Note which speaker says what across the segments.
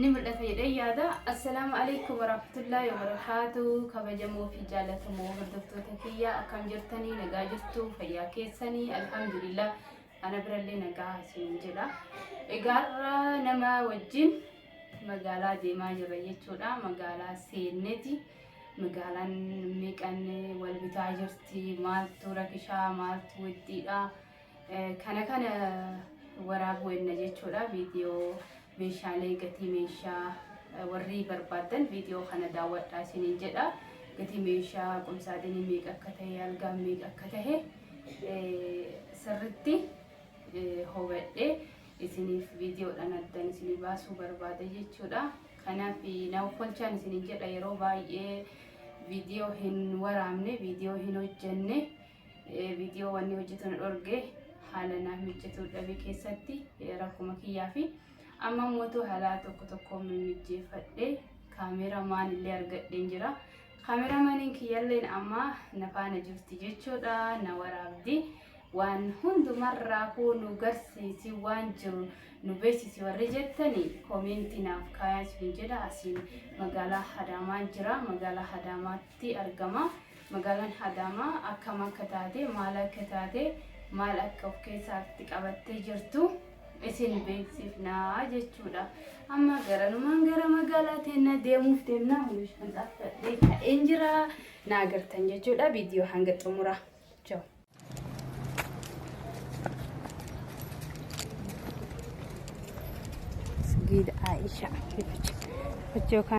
Speaker 1: ni mul'ata jedhee yaada. Assalaamu alaikum warahmatullahi wabarakaatuu kabajamoo fi jaalatamoo hordoftoota kiyyaa akkam jirtanii nagaa jirtuu fayyaa keessanii alhamdulillah ana birallee nagaa isin jedha. Egaarra nama wajjin magaalaa deemaa jirra jechuudha. Magaalaa seenneeti. Magaalaan meeqan wal bitaa jirti maaltu rakishaa maaltu wixxiidha. Kana kana waraabuu enna jechuudha viidiyoo meeshaalee gatii meeshaa warri barbaaddan viidiyoo kana daawwadhaa isiniin jedha gatii meeshaa qumsaaxinii meeqa akka ta'e algaan meeqa akka ta'e sirritti hubadhee isiniif viidiyoodhaan addan isinii baasuu barbaada jechuudha kanaaf na offolchaan isiniin jedha yeroo baay'ee viidiyoo hin waraabne viidiyoo hin hojjenne Viidiyoo wanni hojjetu na dhorge haala naaf mijjatu dhabe keessatti rakkuma kiyyaa fi amma immoo haalaa tokko tokko mijjeeffadhe kaameera maan illee argadheen jira. Kaameera maaniin kiyyalleen amma na faana jirti jechuudha na waraabdi. waan hundumarraa kuu nu garsiisi waan jiru nu beeksisi warri jettani koomeentii naaf kaayaa isin jedha asiin magaalaa Hadaamaan jira magaalaa Hadaamaatti argama Magaalaan Adaamaa akkam akka taate, maal akka taate, maal akka of keessaatti qabattee jirtu isin beeksifna jechuudha. Amma garanumaan gara magaalaa teennaa deemuuf deemna. Hundi shanxaaf fadhee ka'een jira. Na agartan jechuudha. Viidiyoo hanga xumura. Chao. Gida Aisha. Fichoo kan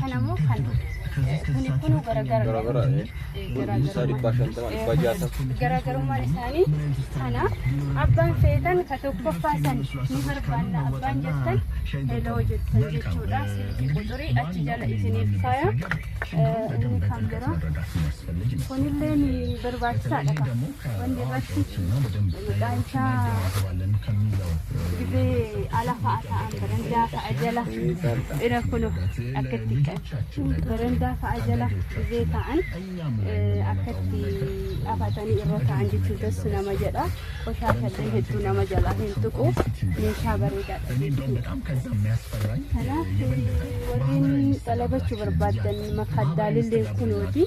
Speaker 1: Kana immoo kan kuni kunuu garagara. Garagara. Isaa
Speaker 2: dhibbaa shantama dhibbaa jaatama. Garaagarummaan
Speaker 1: isaanii kana abbaan feetan ka tokkoffaa san ni barbaanna abbaan jettan heloo jettan jechuudha. Silkii quxurii achi jala isiniif faaya. Inni kan biraa kunillee ni barbaachisaadha kan. Wanni irratti maqaa isaa dhibee ala fa'a ta'an barandaa fa'a jala dhira kuno akkatti barandaa fa'a jala dhibee ta'an akkatti afatanii irra ta'an jechuun tassu nama jedha qoshaashallee hedduu nama jala hin tuqu meeshaa bareedaadha
Speaker 3: jechuudha. Kanaaf
Speaker 4: warreen xalabachuu barbaadan makaddaalillee kunooti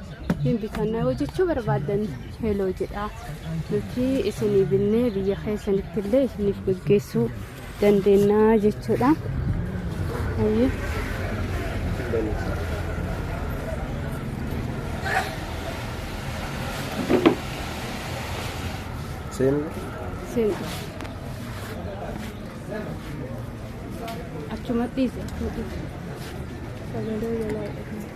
Speaker 4: hin bitanna yoo jechuu barbaaddan heloo jedha nuti isinii binnee biyya keessanitti illee isiniif gaggeessuu dandeenya jechuudha. Hayyee. Seen Seen
Speaker 2: achumatti isa sagalee jalaa
Speaker 4: jedhama.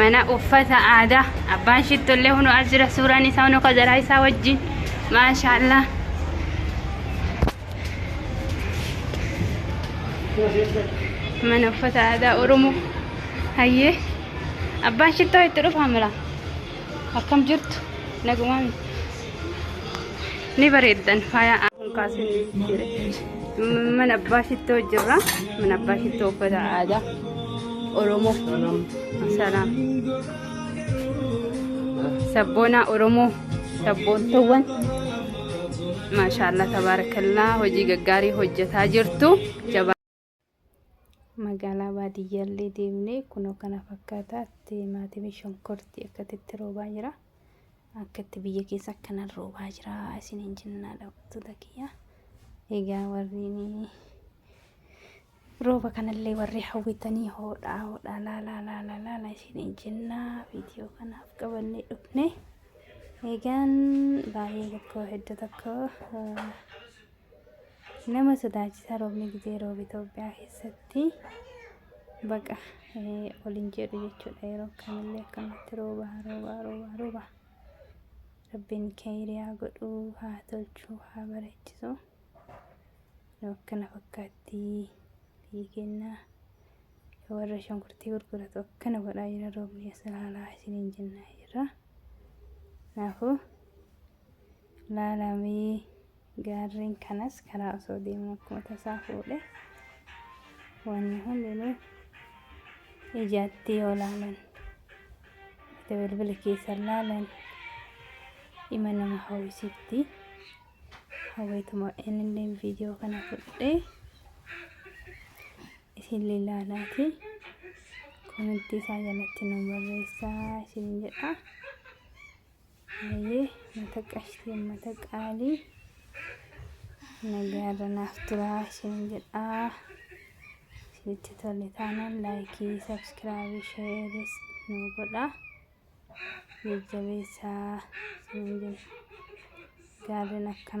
Speaker 4: mana uffata aadaa abbaan shittollee hunu as jira suuraan isaa hunu kajaraa isaa wajjin maashaallah mana uffata aadaa oromoo hayyee abbaan shittoo itti dhufa mala Akkam jirtu? Nagumaan ni bareeddan faaya kaasin jira. Mana abbaa shittoo jirra. Mana abbaa shittoo uffata aadaa Oromoo. Salaam. Sabboonaa Oromoo. Sabboontoowwan. Maashaallah tabaarakallaa hojii gaggaarii hojjetaa jirtu. Jabaa. Magaalaa baadiyyaallee deemnee kunoo kana fakkaataa timaatimi shonkorti akkatti itti roobaa jira. Akkatti biyya keessa akkanan roobaa jira isin hin jennaa daawwattoota kiyya. Egaa warriin rooba kanallee warri hawwitanii hoodhaa hoodhaa laalaa laalaa laalaa isin hin jennaa viidiyoo kanaaf qabannee dhufne. Egaan baay'ee tokko hedda tokko. Nama sodaachisaa roobni gizee roobe Itoophiyaa keessatti baqa ol hin jedhu jechuudha. Yeroo kamillee akkanatti rooba rooba rooba rooba. Rabbiin keeyriyaa godhuu haa tolchuu haa bareechisu. Nu akkana fakkaatti biyyi keenya warra shunkurtii gurguratu akkana godhaa jira roobni as ilaalaa isiniin jennaa jirra. Kanaafuu Laalaa mee gaarreen kanas karaa osoo deemu akkuma tasaa fuudhe wanni hundinuu ijaatti yoo laalan itti bilbila keessan laalan ima nama hawwisitti hawweetuma innillee viidiyoo kana fudhee isinillee laalaati komentii isaa jalatti nu barreessaa isin jedha. Hayyee mata qashtii ummata qaalii nagaarra naaf turaa isheen jedhaa isinitti tole taanaan laayikii sabskiraabii sheeris nu godhaa jajjabeessaa isiniin jenna gaarreen akkana